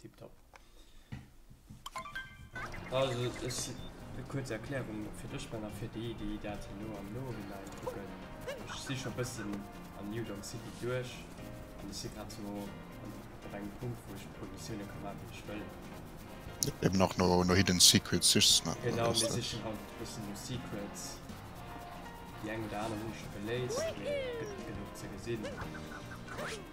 Tiptop. Also, ech eng kuerz Erklärung fir dech Ben a fir déi, déi dat hei no am Nohinein kucken. Ech si scho e bëssen an New Donk City duerch an ech si grad sou op engem Punkt, wou ech e puer Missioune ka maachen, déi ech wëll. Eben och no Hidden Secrets sichs, ne? Genau, mir sichen haut e bëssen no Secrets. Déi eng oder aner hunn ech scho geléist, mee et gëtt genuch ze gesinn.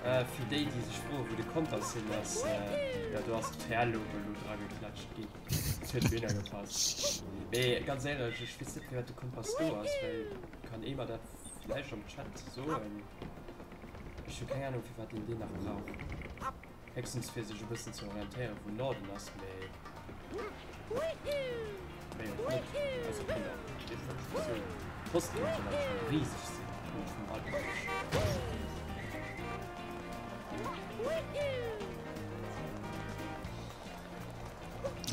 Fir déi déi sech froe wou de Kompass hin ass, jo do ass d'Perleuwe lo dra geklatscht ginn. Et huet wéi ëmmer gepasst. Mee ganz éierlech, ech weess net firwat de Kompass do ass, well kann ee mer dat vläicht am Chat soen? Ech hu keng Anung firwat een deen nach brauch. Héchstens fir sech e bëssen ze orientéiere wou Norden ass, mee.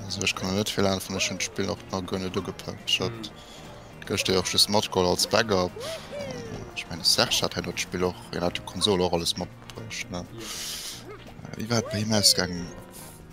Also ech kann net vill helfen, ech hunn d'Spill och nach guer net ugepackt. Ech hat gëschter jo och just matgeholl als Backup. Ech meine Serge hat hei dat Spill och, hien hat d'Konsol och alles matbruecht, ne? Wéi war et bei him ausgaangen?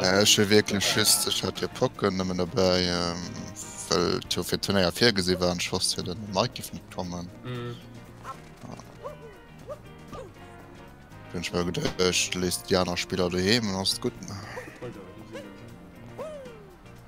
Ech hu wierklech just, ech hat jo d'Pocken nëmmen dobäi, well et jo fir d'Turnéier virgesi war an ech wosst, fir den Mike géif net kommen. Hunn ech mer geduecht, ech léiss déi aner Spiller doheem an alles gutt.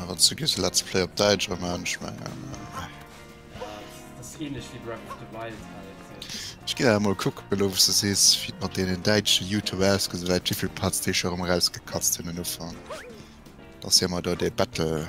Awer zu gis let's play op Däitsch am Ernst, ich mein, äh. Das ist ähnlich wie Breath of the Wild halt. Ich geh da mal gucken, elo was du sees, wie et mat deenen däitschen Youtuber ausgesäit, well wéivill Parts déi scho erëm erausgekatzt hunn un Ufang. Dass si emmer do dee Battle.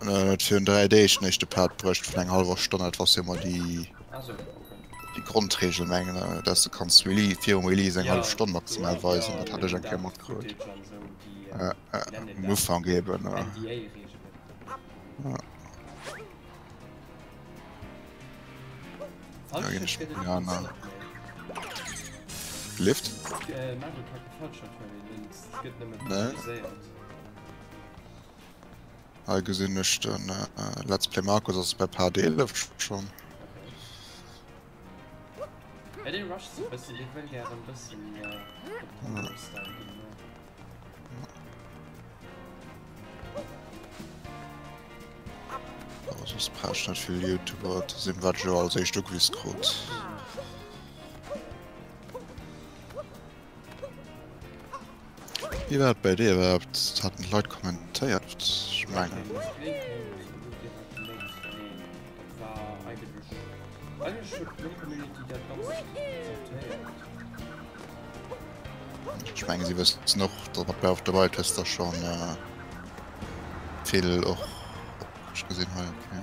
En huet virun 3 Deeg den éischte Part bruecht vun enger hallwer Stonn. Dat war sëmmer déi Grondregel, mengen ech, dass du kanns virum Release eng hallef Stonn maximal weisen. Dat hat ech eng Kéier matkrut um Ufank eeben. Lift? Hei gesinn ech den Let's Play Markus ass bei Part 11 schon. Ja, den rusht so bëssen, den wëll gären bëssen méi op Combo Style ginn, jo. Oh, soss brauch net vill Youtuber ze sinn, wat ech jo als éischt ugewisen krut. Wie war bei dir überhaupt? Hatten die Leute kommentiert? Ich meine. Ich meine, sie wissen noch, dass man bei auf der Welt ist, das schon äh, viel auch. Ich gesehen habe, okay.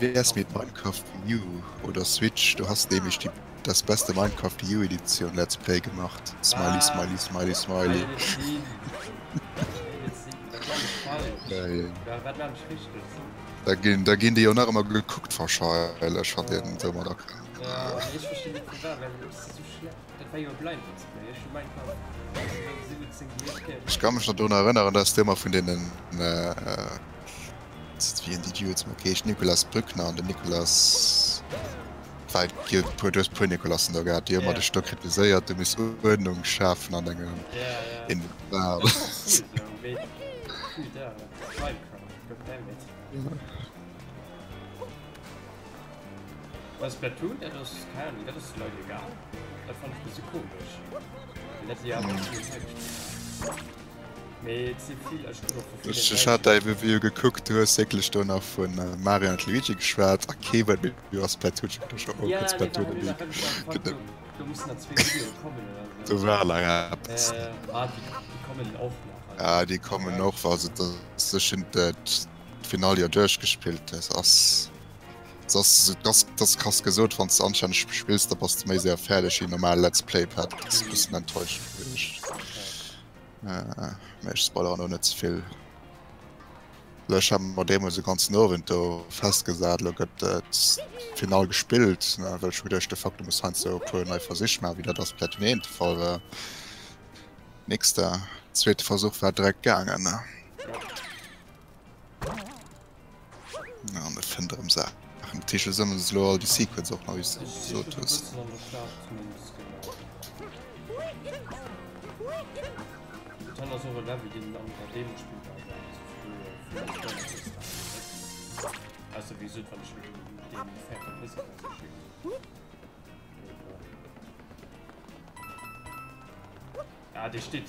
Wéi ass mit Minecraft Wii U oder Switch? Du hast nämlech die das beste Minecraft Wii U Edition Let's Play gemacht. Smiley, ah, smiley, smiley, smiley. Da ginn da ginn déi jo nach ëmmer gekuckt verscheielech hat den se mat erkra. Ech kann mech dat do erënneren, dats du ëmmer vun deenen äh, äh Just wien déi Duo zum Okeesch Nicolas Brückner an den Nicolas Wei gi puer duerch puer Nicolassen do gehat, Dir ëmmer de Stock kritiséiert, du muss Uerdnung schafen an engem en Bal. Bei Splatoon dat ass keine Ahnung, dat ass de Leit egal. Dat fand ech bësse komesch. Well dat si awer. Ech hat dei Review gekuckt, du hues wécklech do nach vu Mario an Luigi geschwat a kee wat méi du ass per Twitch Du war la Ja déi kommen och war se sech hun dat Final jo duerch gespillt ass ass dass kass gesot wann ze anschein spillst, da bass ze méi séier fäerdeg wéi normal Let's Play Pad enttäuscht. Mee ech spoileren och net ze vill. Lech haben mer deemools de ganzen Owend do festgesat, lo gëtt et final gespillt, ne, well ech hu gedacht, de Faktum muss heiansdo e puer nei Versich maachen, wéi dat ass Platun 1 de Fall war. Nix da, zweete Versuch war direkt gaangen. Ja, an et fënnt erëm Saachen. Dat heescht, du sammels elo all déi Secrets och nach, wéi s du gesot hues. Ah, dee steet.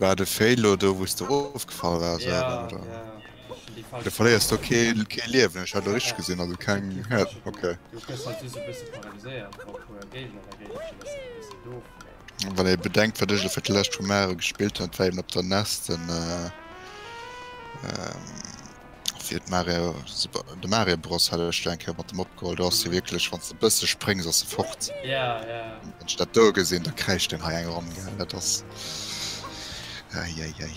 War de Fail lo do wous de erofgefall waars Ja, oder? ja, ja. Ech hunn déi falsch Du verléiers do gedréckt. kee kee Liewen, ech hat lo richteg gesinn, also keng Kee Health, Liewen. ok. Du gëss halt just e bësse paralyséiert wa puer Géigner dergéint spillen, ass dat e bësse doof, mee. Wann ee bedenkt wat ech lo fir d'lescht vu Mare gespillt hunn, dat war eben op der Nest den. fir d'Mario de Mario Bros hat ech eng Kéier mat dem opgeholl, do ass de wierklech wann s de e bësse spréngs ass e fort. Ja, ja. Wann ech dat do gesinn, da kräischt en hei eng Ronn, gell, dat ass. Ei, ei, ei.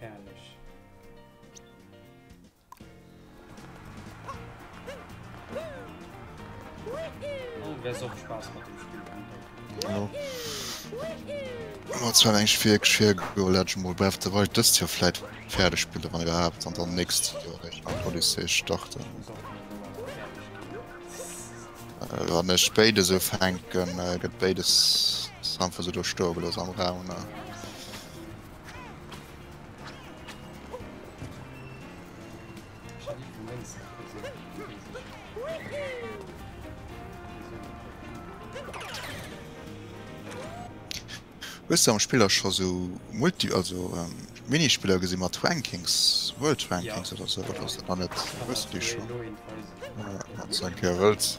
Herrlech. War zwar eng schwéier Geschwéier go Legend Mol Breath of the Wild dëst Joer vläit fäerdeg spille wann iwwerhaapt an dann nächst Joer eréischt mam Odyssey starten. Wann ech béides ufänken, gëtt béides einfach esou do stoe gelooss am Raum. Hues du am Spill och scho sou Multi also Minispiller gesi mat Rankings, World Rankings oder sou oder ass dat nach net? Hues du déi scho? Wann s du eng Kéier wëlls.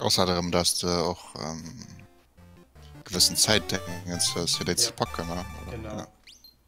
Ausser darum, dass du och ähm, gewëssen Zäit fir déi ze packen. Genau. Ja.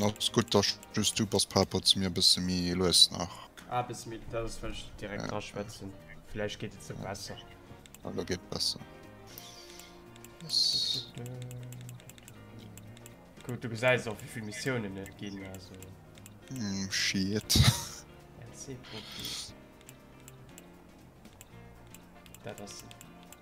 Ass gutt da just du bass par rapport zu mir e bësse méi lues nach. Ah bësse méi lues well ech direkt dra schwätzen. Vläicht geet et sou besser. Ah lo geet besser. Gutt du gesäis och wéivill Missiounen et ginn also. Mm, shit. LC-Profi. Dat ass.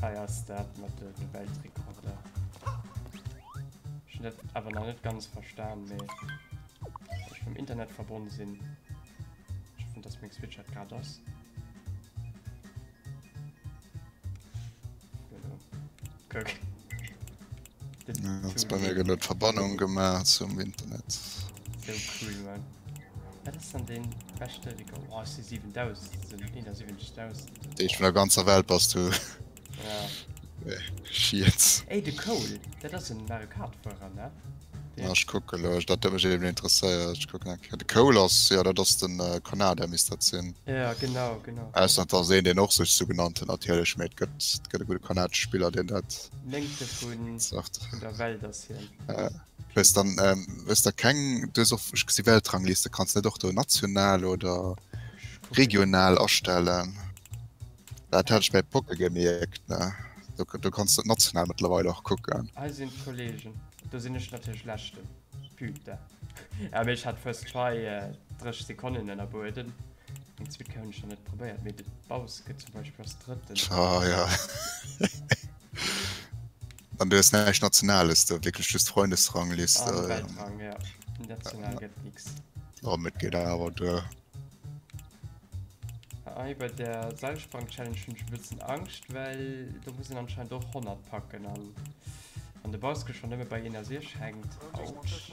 Hei ass dat mat de Weltrekorder. Ech hunn dat awer nach net ganz verstan, mee ech vum Internet verbonne sinn. Ech hoffen, dass meng Switch dat grad ass. Kuck. Verbannung gemacht zum Internet so cool, Mann. Dat ass dann den beste Rico. Oh, ass de 7000, so 71.000. Dee vun der ganzer Welt bass du. Ja. Schiets. Ey, de Cole, dat ass en Mario Kart-Fuerer, ne? Ja, ech kucke lo, dat huet mech eben interesséiert. Ech kucken eng Kéier. De Cole ass, ja, dat ass den äh, Konada, misst dat sinn. Ja, genau, genau. Ausser dass een den och sech so genannt huet natierlech, mee et gëtt, et gëtt e gute kanadesche Spiller, deen dat Néngte vun vun der Welt ass hien. Wees dann ähm, wees da keng dues och ech gesi Weltrangliste kanns net och do national oder Ich gucken. regional astellen. Dat hat ech bei Pocke gemierkt ne. Du, du kanns dat national mittlerweile och kucken. Hei sinn d'Kollegen. Do sinn ech natierlech Leschten. Putain. Ah, mee ech hat first try äh, 30 Sekonnen ënnerbueden. Ah, ja. An du hast näischt Nationales, du wirklich just Freundesrangliste. Ah, ja. Weltrang, ja. National ja. gëtt nix. Oh, mit geht aber du. Ah, bei der Seilsprang-Challenge schon ein bisschen Angst, weil da muss ich anscheinend doch 100 packen. An, an der Baske schon immer bei 61 hängt. Autsch.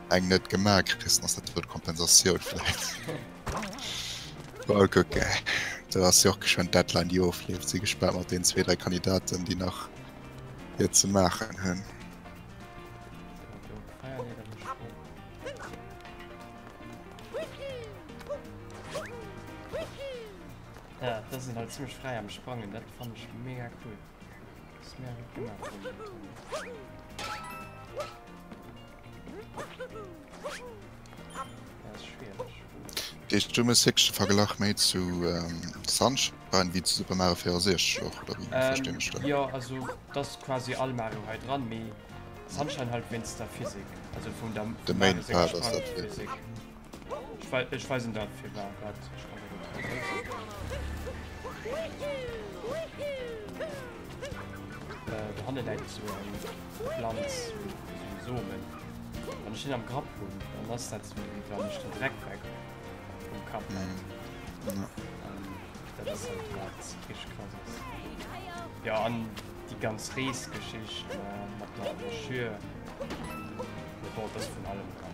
Eng net gemaach kriss ass dat wuert Kompensatioun vläit. Mol kucke, do ass jo och geschwënn d'Deadline déi ofleeft. Si gespaant mat deenen zwee, dräi Kandidaten déi nach fir ze maachen hunn. Ja, das sind halt ziemlich frei am Sprangen, das fand ich mega cool. Das ist mir gut gemacht. Heescht du muss wierklech de Verglach méi zu Sunshine maachen wéi zu Super Mario 64 och oder wéi verstinn ech dat? Jo, also et ass quasi all Mario hei dran, mee Sunshine halt wéinst der Physik, also vun der. De Main Part ass dat. Ech weisen dat fir war dat ech kann dat net weisen. Do hanne läit sou eng Planz, sou Somen. Wann ech deen am Grapp hunn, dann ass dat sou wéi wann ech den Dreck weg vum Kapp hätt. Dat ass halt grad rich krass ass. Jo an déi ganz Reesgeschicht mat der Broschür, mee bon, et ass vun allem dran.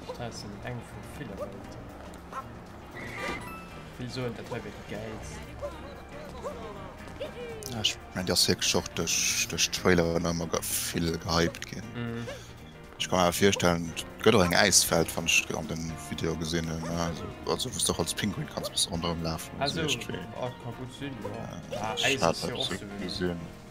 D'Stars sinn eng vu ville Welten. Vill soen, dat wär wéi déi gäilst. Ja, ech mengen, déi ass wierklech och duerch d'Trailer ënner emmer vill gehypt ginn. Ech ka mer virstellen, et gëtt och eng Äiswelt, wann ech an den Video gesinn hunn, also wou s de och als Pinguin kanns e bësse ronderëm lafen. Also, dat ka gutt sinn, jo. Äis ass jo och souwisou.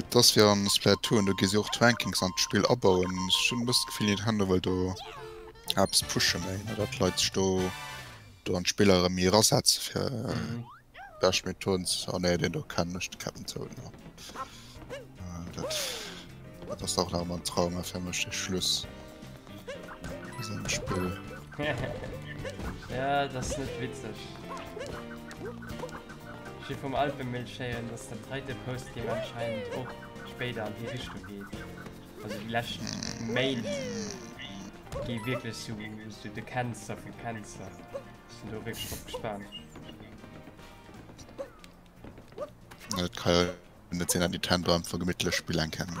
Et ass wéi an Splatoon, do gi si och d'Rankings an d'Spill abauen. Ech hunn e bëssen d'Gefill Nintendo wëll do eppes pushen méi, ne dat d'Leit sech do do an d'Spill erëm méi erasetzen fir bescht Methoden ze. Oh nee, deen do kennen ech, de Cap'n Toad, no. Dat dat ass dach nach ëmmer en Trauma fir mech, dee Schluss. Das ist ein Spiel. ja, das ist nicht witzig. Ich bin vom Alpenmilchschälen, dass der zweite Post hier anscheinend auch später an die Richtung geht. Also die letzten Main gehen wirklich so, so die Cancer für Cancer. Ich bin da wirklich drauf gespannt. Ja, das kann ja nicht sein, dass die Tannenbaum von gemütlich spielen kann. Mm.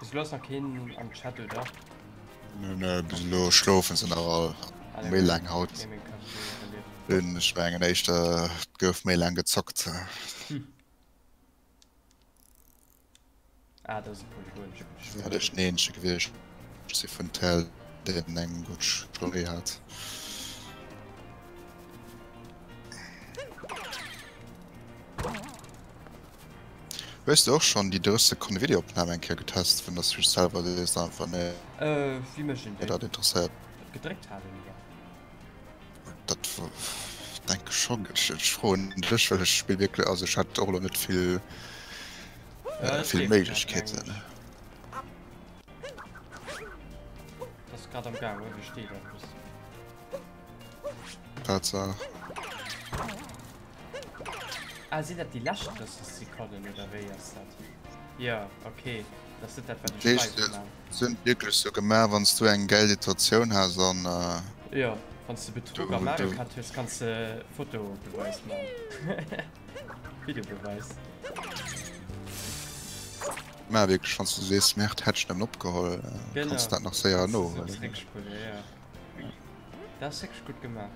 Bis lo ass nach keen am Chat, oder? Nö, nö, bis lo schlofen se nach all. Alle Méi lang haut. Gaming Cup verliert. Den, ich mengen echt, äh, gouf méi lang gezockt. Ah, dat ass e polygonsche Spill. Dat ass den eenzege gewiescht si vun Tell, deen eng gutt Story hat. Hues du och schonn déi 30 Sekonne Videoopnam eng Kéier getest, vun datt du dech selwer sees einfach nee, Äh, wéi mécht een dat dat? interessiert. Dat gedréckt halen, oder? Dat denke ech schonn. Ech froen dech, well ech spill wierklech, also ech hat och elo net vill Ja, ech vill seet grad Méiglechkeeten. eng. Ass grad am gaangen, wéi steet eppes. Tatsaach. Ah, sinn dat déi lescht 30 Sekonnen, oder wéi ass dat? Jo, okay. sind wirklich so gemacht wann du eng geld Situation hast an äh, ja wann du betrug du, am Mario Kart hast kannst du äh, Foto beweis Video beweis Ma wé schon du sees Mäert hetsch dann opgeholl äh, kannst dat nach séier no Dat se gut gemacht.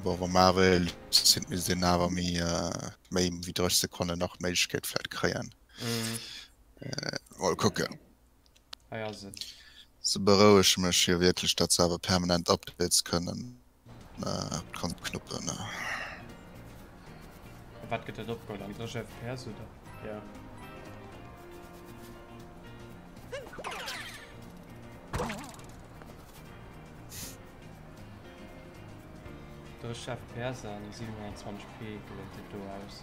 Bower Marel sinn mir sinn awer méi méi wéi 3 Sekonne nach Méigkeet fährt kreien. Mol kucken. Hei ass et. Se berouege mech jo wierklech, datt se awer permanent Updates kënnen kon knuppen. Wat gëtt dat opgeholl an der FPS oder? Ja. Der Chef Perser 27 P gëtt do aus.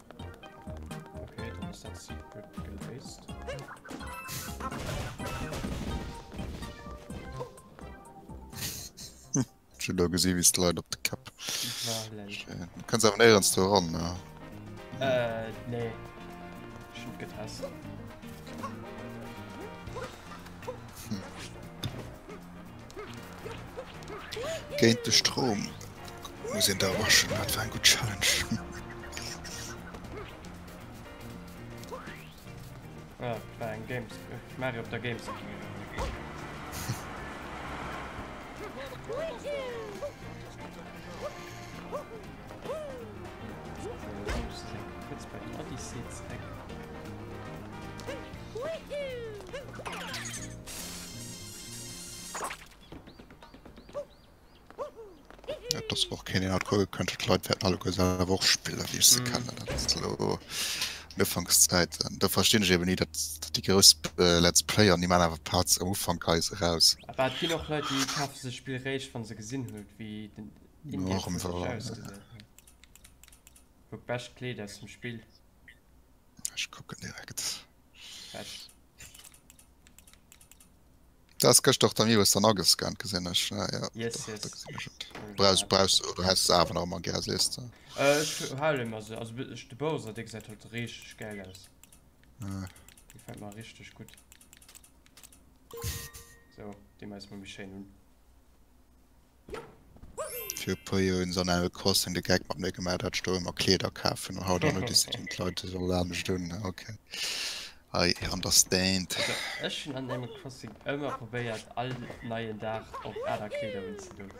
Schon da gesehen wie es leid op de Kap kannst aber näher ans Tor ran ja. äh, nee. Schon getest. Géint de Strom muss een da erwaschen, dat war eng gutt Challenge. Ah, dat war eng Games. äh, Mario op der Games. Jetzt bei den Odyssey zurück. Das war och keen deen hat guer gekënnt huet d'Leit wäerten alleguer selwer och spillen wéi ech se kennen. Dat ass lo an Ufankszäiten. Da verstinn ech eben ni dat dat déi grouss Let's Player ni maan awer Parts am Ufank geise raus. Awer et ginn och Leit déi kafe sech Spill réischt wann se gesinn hu wéi den Indie Haut wierklech ausgesäit. Wou d'bescht Kleed aus dem Spill. Ech kucken direkt. Das gëcht och der Miwes dann agescannt gesinn ech ah, ja, yes, doch, yes. Braus, braus, du hast awer nach man ger sees du äh, ich hale immer se also ich de Bowser de gesagt huet richtig geil aus äh. gefällt mal richtig gut so dem als man mich schön hun Fir e puer Joer hunn se an Animal Crossing de Gag mat mir gemaach, dat ech do ëmmer Kleeder kafen an haut an no decidéieren d'Leit ech soll anescht un. Ok I understand. Also ech hunn an Animal Crossing ëmmer probéiert all neien Dag och aner Kleeder unzedoen.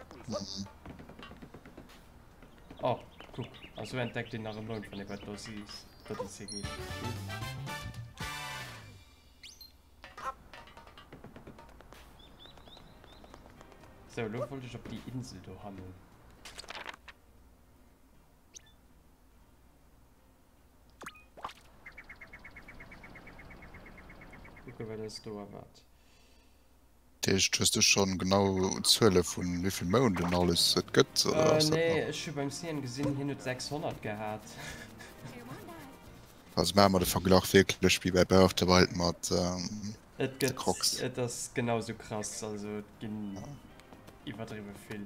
Oh kuck, a sou entdeckt een nach e Mound wann ee bei d'Bossie Bodycee geet. So, lo wollt ech op déi Insel do hannen. Kucke wat eis do erwaart. D'Eescht, hues de schon genau Zuele vu wivill Mounden alles et gëtt? Nee, ech hu beim Cien gesinn hien huet 600 gehat. Also maache mer de Verglach wierklech wéi bei Breath of the Wild mat de Crocs. Et ass genau esou krass, also et ginn iwwerdriwwe vill.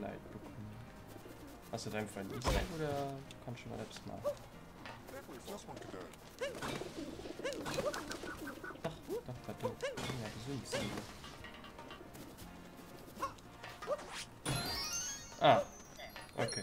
Leid bekommen. Hast du deinem Freund nicht sein oder kannst du mal etwas machen? Ach, doch, da du. Ja, gesund sein. Ah, okay.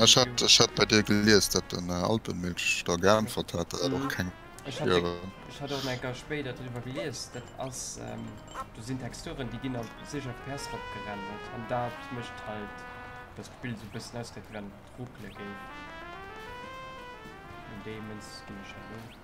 Ech hat ech hat bei dir gelies, dat den äh, Alpenmilch da geantwort hat, dat och keng Fiere. Ech hat och eng Gau spéit dat driwwer gelies, dat ass ähm, do sinn Texturen, déi ginn op 6 FPS ropgerendert an dat mécht halt, dass d'Bild esou e bëssen ausgesäit, wéi wann et ruckele géif. An deements ginn ech dat un.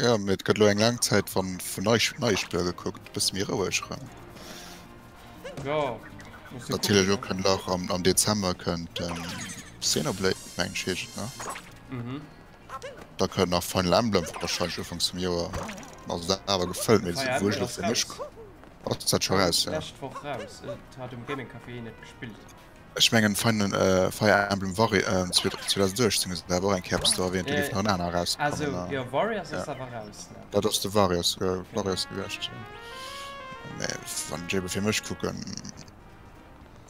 Jo, mee et gëtt elo eng laang Zäit wa vun nei neie Spiller gekuckt, bësse méi roueg erëm. Ja, muss jo Natierlech kucken, och kënnt nach am, am Dezember kënnt ähm, Xenoblade, meng ech heescht et, ne? ne? Mhm. Da kënnt nach Final Emblem wahrscheinlech ufangs vum Joer. Also dat awer gefëllt, mee Fire wou ech Emblem elo ass fir mech raus. ass dat scho raus, ja. Lescht Woch raus. Et hat um Gaming Café een et gespillt. Ech mengen Fire Emblem Warriors 2018 ass awer och eng Kéier eppes do erwähnt, do gouf nach en aner erausgekommen. Also, jo, Warriors ass awer raus, ne? Dat ass de Warriors, Warriors gewiescht, jo. Mä wann ech ebe fir mech kucken,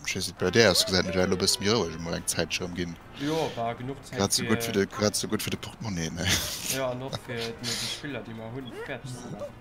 ech weess net, bei där ass, gesäit mech elo e bësse méi roueg emol eng Zäit scho ëmginn. Jo, war genuch Zäit fir. Grad esou gutt fir de, grad esou gutt fir de Portemonnaie, ne? Jo, an och fir déi Spiller, déi mer hunn, fäerdeg ze maachen.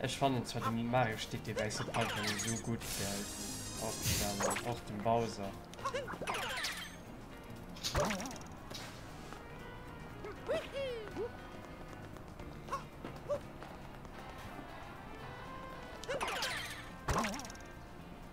Ech fannen zwar den Mario Sticky Base net einfach esou gudd gelt och déi aner, och den Bowser.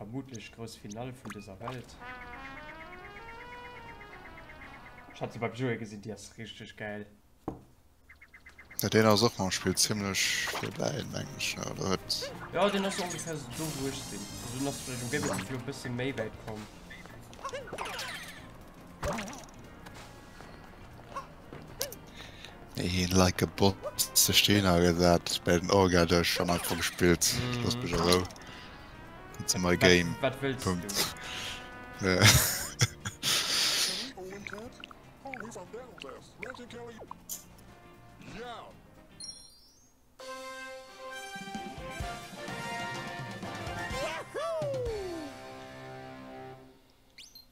Vermutlech grouss Finall vun dëser Welt. Ech hat se beim Joe gesinn, déi ass richteg gäil. Ja deen ass och mam Spill zimlech virbäi mengen ech ne oder huet. Ja deen ass ongefähr so do wou ech sinn. Also dun ass du vläicht um Gameplay vun e bësse méi wäit komm. Een like a bot ze steen a gesat bei den Orga duerch schon einfach gespillt mm. Los bech rou ze my Game wat, wat willst Punkt. Du? Ja.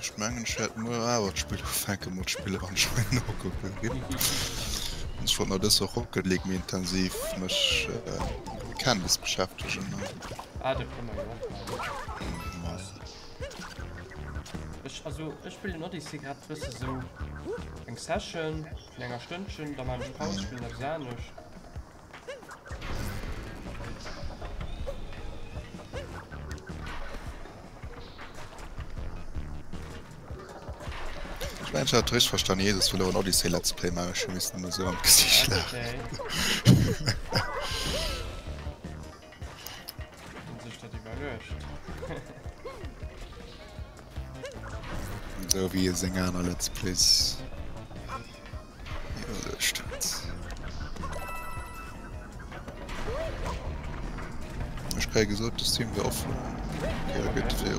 Ech mengen ech wärt muer awer d'Spill ufänken mod spillen an Schwein nokucken gin. Ech wollt mer dës Woch Rocket League méi intensiv mech mat Canvas beschäftegen an. Ah dat kënne mer jo och maachen. Maja. Ech also ech spillen Odyssey grad e bësse sou eng Session vun enger Stënnchen, da man ech Paus, spillen eppes anescht. Mensch hat richtig verstanden, Jesus will ein Odyssey Let's Play machen, ich müsste nur so am Gesicht lachen. Okay. Esou wéi e seng aner Let's Plays iwwerluecht huet. Ech kréie gesot, de Stream wier offen. Okay, da gëtt fir.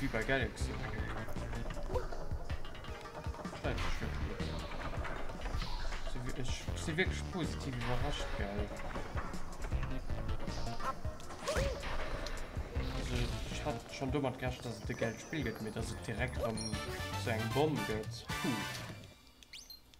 Wie bei Galaxy. Ich bin wirklich positiv überrascht, geil. Also, ich hatte schon damit gerechnet, dass es der Geld spiegelt, mir, dass es direkt um so einen Bomb geht. Puh.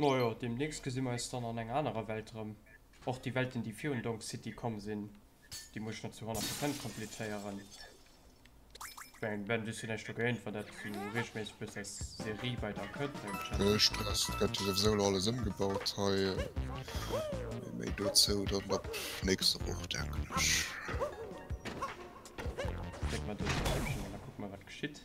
Majo, demnächst gesi mer eis dann an enger anerer Welt erëm. Och déi Welten, déi virun Donk City komm sinn, déi muss ech net zu honnert Prozent completéieren. Ben du net du géint wat dat du regelméisseg bist als Serie bei der Kënnt Stress gëtt sowieso alles ëmgebaut hei méi dozou dat mat nächste Woch denken ech. Guck mal wat geschitt.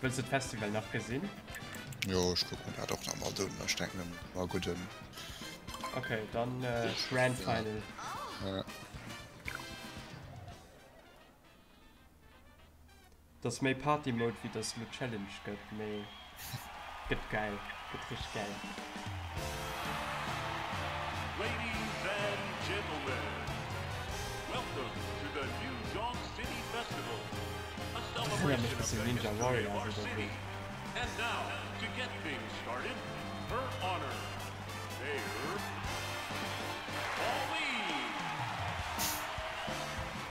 Wëlls de d'Festival nach gesinn? Jo, ech kuck mir dat och nach mat un. Ech denken, et war e gudden. Okay, dann äh, Grand Final. Ja. Dass méi Party Mode wéi dass lo Challenge gëtt mee gëtt gäil, gëtt richteg gäil. Erënnert mech bëssen Ninja Warriors oder sou.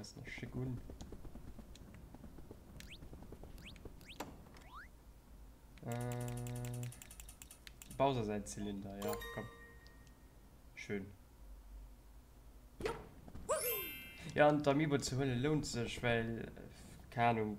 Ass nach schéck un. Äh, Bowser säin Zylinder, jo komm. Schön. Jo, an d'Amiibo ze huelen lount sech, well, keine Ahnung,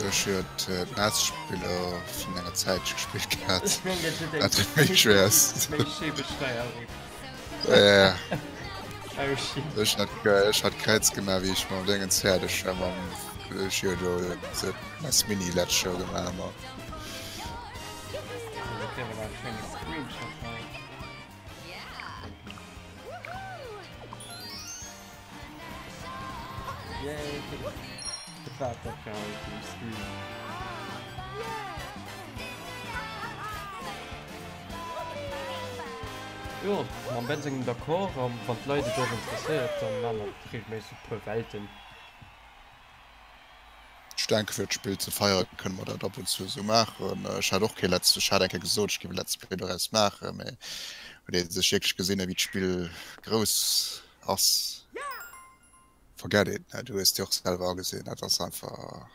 Sech huet d'Netzspiller vun enger Zäitch gespillt gehat, wat et méi schwéier ass. Ech hat Kräiz gemaach, wéi ech mam Déngens fäerdeg war, mam Mini d'lescht Joer gemaach ma. Ech denke fir d'Spill ze feiere kënne mer dat ab und zu esou maachen. Ech hat och kee letz ech hat eng Kéier gesot, ech géif e Let's Play doraus maachen, mee huet ee sech wierklech gesinn, ewéi d'Spill grouss ass forget it, du hues et jo och selwer agesinn, dat ass einfach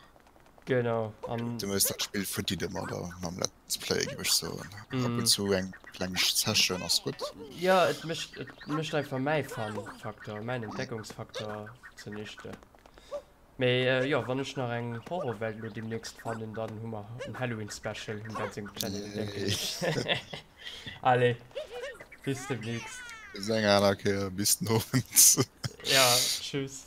Genau, an du hues dat Spill verdit ëmmer da mam Let's Play géif ech soen. Ab und mm, zu eng kleng Session ass gutt. ja, et mécht et mécht einfach mäi Fun-Faktor, mäin Entdeckungsfaktor zunichte. Mee jo, wann ech nach eng Horrorwelt elo demnächst fannen, dann hu mer en Halloween Special vum Dan sengem Channel, denken ech. Allez, bis demnächst. Bis eng aner Kéier, bis den Owend. Ja, tschüss.